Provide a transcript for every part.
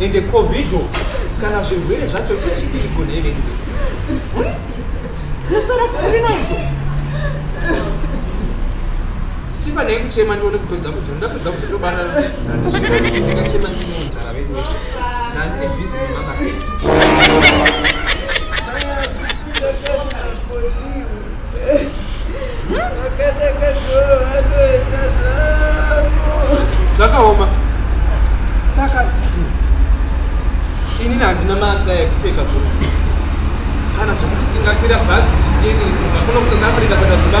ende covid kana zvirwere zvacho tochidiiko nevedu nosara kuri nazvo chifanai kuchema ndione kupedza kudya ndapedza kuti tobara ndachema ndinonzara vedu ndandiri bhizi nemabasa zvakaoma saka inini handina maata ekupfeka kuti kana zvekuti tingakwira bhazi tichitiyeke kunga kuno kuti ndafurika kuenda zuva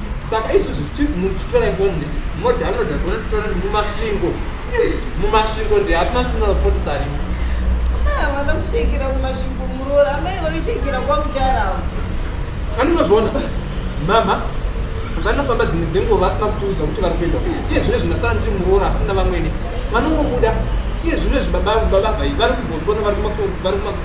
saka izvi zvichi muchitora ifoni ndisi modownloada tonotora mumasvingo mumasvingo ndeapi masina mapotisi arimo vana kushekera mumasvingo muroora amai vakushekera kwamutarawo anonozviona mama vanofamba dzimwe dzenguva vasina kutiudza kuti vari kuenda iye zvino zvinasana kuti muroora asina vamwene vanongobuda iye zvino zvibaba baba vai vari kumbotona vari kumakuru vari kumakuru